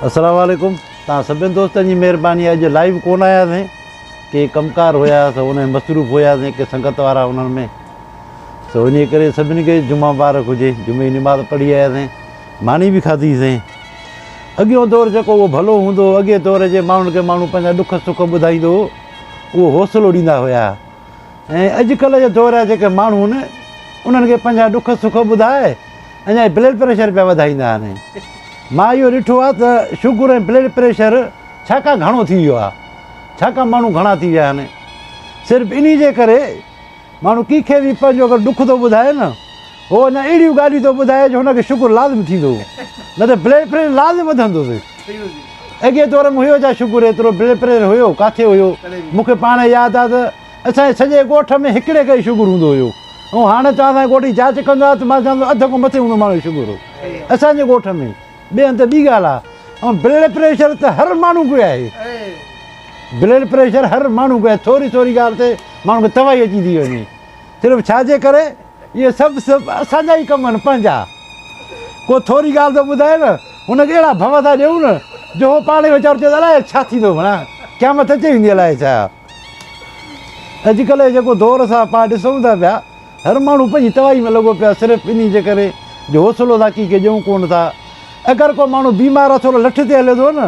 السلام عليڪم توهان سڀني دوستن جي مهرباني اڄ لائيو ڪون آياسين ڪي ڪم ڪار هيا سو ان ۾ مصروف هياسين ڪي سنگت وارا انهن ۾ سو انهي ڪري سڀني کي جمعه مبارڪ هجي جمعي جي نماز پڙهي آياسين ماني به کاڌي سين اڳيون دور جيڪو هو ڀلو هوندو هو اڳي دور جي ماڻهن کي ماڻهو پنهنجا ڏک سک ٻڌائيندو هو اهو حوصلو ڏيندا هيا ۽ اڄ ڪلهه جا دور جا جيڪي ماڻهو آهن انهن کي پنهنجا ڏک سک ٻڌائي اڃا هي بلڊ پريشر پيا وڌائيندا آهن مان اهو ڏٺو آهي ته شگر ۽ بلڊ پريشر ڇاڪا گهڻو ٿي ويو آهي ڇاڪا ماڻهو گهڻا ٿي ويا آهن صرف انهي جي ڪري ماڻهو ڪنهن کي به پنهنجو اگر ڏک ٿو ٻڌائي نه هو اڃا اهڙيون ڳالهيون ٿو ٻڌائي جو هن کي شڪر لازم ٿيندو هو نه ته بلڊ پريشر لازم وڌندو هو. اڳئين دور ۾ هيو ڇا شڪر ايترو بلڊ پريشر هيو ڪاٿي هيو مون کي پاڻ ياد آ ته اسان جي سڄي ڳوٺ ۾ هڪڙي کي ئي شڪر هوندو هيو ۽ هاڻ توهان اسان جي ڳوٺ جي جاچ ڪندو آ ته مان چوان ٿو اڌ کان مٿي هوندو ماڻهو شڪر هو اسان جي ڳوٺ ۾ ٻئي هنڌ ٻي ڳالهه آ ۽ بلڊ پريشر ته هر ماڻهو کي آهي بلڊ پريشر هر ماڻهو کي آهي ٿوري ٿوري ڳالهه تي ماڻهو کي تباهي اچي ٿي وڃي صرف ڇا جي ڪري اهي سڀ سڀ اسان جا ئي ڪم آهن پنهنجا. ڪو ٿوري ڳالهه ٿو ٻڌائي نه، هن کي اهڙا ڀؤ ٿا ڏيون نه جو هو پاڻ ئي ويچارو چوي ٿو الائي ڇا ٿيندو ڀلا، قيامت اچي ويندي الائي ڇا. اڄڪلهه جيڪو دور اسان پاڻ ڏسون ٿا پيا، هر ماڻهو پنهنجي تباهي ۾ لڳو پيو آهي صرف انهي جي ڪري جو حوصلو ذاڪي کي ڏيون ڪونه ٿا. اگر ڪو ماڻهو بيمار اٿولو لٺ تي هليو ٿو نه،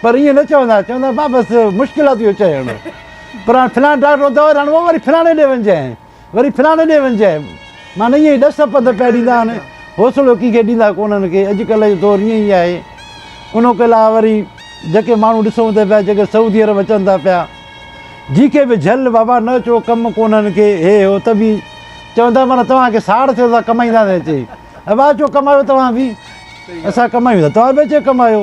پر ائين نه چوندا، چوندا ڀاء بس مشڪلاتون اچي ويون هن پر هاڻي فلاڻي ڊاڪٽر وٽ دوا ڏيارڻو پوي وري فلاڻي ڏي وڃجانء وري فلاڻي ڏي وڃجانء معنيٰ ائين ئي ڏس پنڌ پيا ڏيندا آهن حوصلو ڪنهن کي ڏيندا ڪونهن ڪي اڄڪلهه جو دور ائين ئي آهي ان کان علاوه وري جيڪي ماڻهو ڏسون ته پيا جيڪي سعودي عرب اچن ٿا پيا جي کي به جهل بابا نه اچو ڪم ڪونهن ڪي هي هو ته به چوندا معنيٰ توهان کي ساڙ ٿيو ته ڪمائيندا نه اچي ابا اچو ڪمايو توهان به اسان ڪمايون ٿا توهان به اچي ڪمايو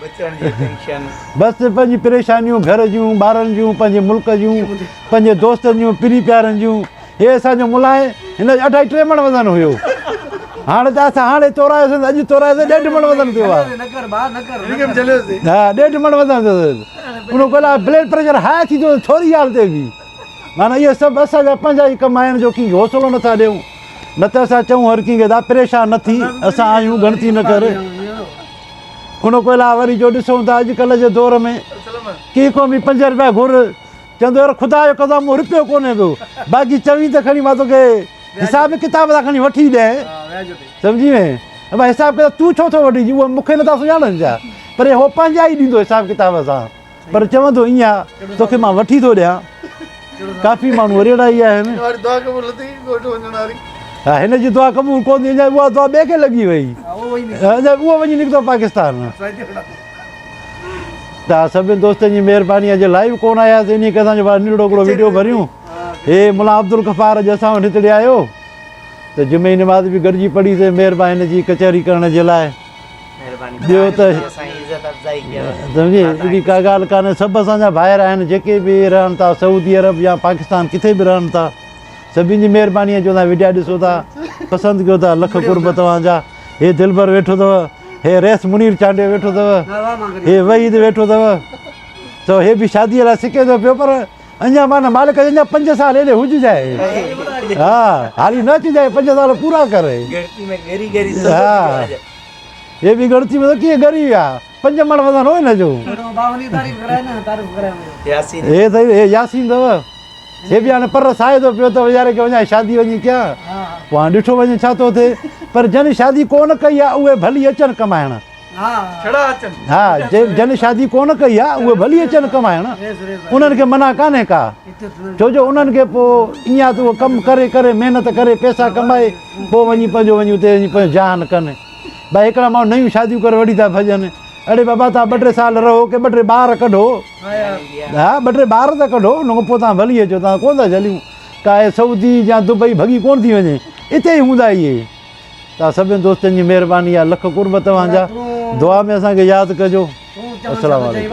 بس ته پنهنجيون پريشانيون گهر جون، ٻارن جون، پنهنجي ملڪ جون، پنهنجي دوستن جون، پرين پيارن جون. هي اسان جو ملاح هن جو اڍائي ٽي مڻ وزن هيو. هاڻي ته اسان هاڻي تورائيوسين، اڄ تورائيوسين، ڏيڍ مڻ وزن ٿيو آهي. ها ڏيڍ مڻ وزن ٿيو اٿس. ان کان علاوه بلڊ پريشر هاء ٿي ٿيو ٿوري حال تي به. معنيٰ اهي سڀ اسان جا پنهنجا ئي ڪم آهن جو ڪنهن کي حوصلو نه ٿا ڏيون. نه ته اسان چئون هر ڪنهن کي ته پريشان نه ٿي، اسان آهيون ڳڻتي نه ڪر. ان کان علاوه وري جو ڏسون ته اڄڪلهه جي دور ۾ ڪي قومي پنج رپيا گهر چوندو يار خدا جو قسم مون رپيو ڪونهي ڏنو باقي چوين ته کڻي مان توکي حساب ڪتاب سان کڻي وٺي ڏينء سمجهي وئين ابا حساب ڪتاب تون ڇو ٿو وٺي جي اهي مون کي نٿا سڃاڻن ڇا پر هو پنهنجا ئي ڏيندو حساب ڪتاب سان پر چوندو ايئن آ توکي مان وٺي ٿو ڏيان ڪافي ماڻهو وريڙا ئي آهن ها هن جي دعا قبول ڪو ٿي اڃا اها دعا ٻئي کي لڳي وئي اڃا اهو وڃي نڪتو پاڪستان ته سڀني دوستن جي مهرباني آهي جي لائيو ڪون آيا سي انهي ڪسان جو بار نيڙو هڪڙو ويڊيو ڀريون هي ملا عبدالغفار اڄ اسان وٽ هتڙي آيو ته جمعي نماز به گڏجي پڙهي سي مهرباني هن جي ڪچهري ڪرڻ جي لاء ٻيو ته سمجهي اهڙي ڪا ڳالهه ڪانهي سڀ اسان جا ڀائر آهن جيڪي به رهن ٿا سعودي عرب يا پاڪستان ڪٿي به رهن ٿا سڀني جي مهرباني جو توهان وڊيا ڏسو ٿا پسند ڪيو ٿا لک قرب توهان جا هي دلبر ويٺو اٿو هي ريس منير چانڊيو ويٺو اٿو هي وحيد ويٺو اٿو تو هي به شادي لاء سڪي ٿو پيو پر اڃا مان مالڪ اڃا 5 سال هيڏي هج جائي ها هاري نه اچي جائي 5 سال پورا ڪري ها هي به ڳڻتي ۾ ته ڪيئن ڳري ويا. پنج مڙ وزن هو هن جو. هي سائين هي ياسين اٿو. هي به هاڻي پر ساهي ٿو پيو ته ويچاري کي وڃائي شادي وڃي ڪيان. پوء هاڻي ڏٺو وڃي ڇا ٿو ٿئي. پر جن شادي ڪونه ڪئي آهي اهي ڀلي اچن ڪمائڻ. ها جن شادي ڪونه ڪئي آهي اهي ڀلي اچن ڪمائڻ. انهن کي منع ڪانهي ڪا. ڇو جو انهن کي پوء ايئن آهي ته اهي ڪم ڪري ڪري محنت ڪري پئسا ڪمائي. پوء وڃي پنهنجو وڃي اتي وڃي پنهنجو جهان ڪن. ڀائي هڪڙا ماڻهو نيون شاديون ڪري وٺي ٿا ڀڄن. اڙي بابا توهان ٻه ٽي سال رهو ڪي ٻه ٽي ٻار ڪڍو. ها ٻه ٽي ٻار ته ڪڍو ان کان پوء توهان ڀلي اچو توهان ڪونه ٿا جهليون. ڪاهي سعودي يا دبئي ڀڳي ڪونه ٿي وڃي اتي ئي هوندا اهي. توهان سڀني دوستن جي مهرباني آهي لک قرب توهان جا. دعا ۾ اسان کي ياد ڪجو. السلام عليڪم.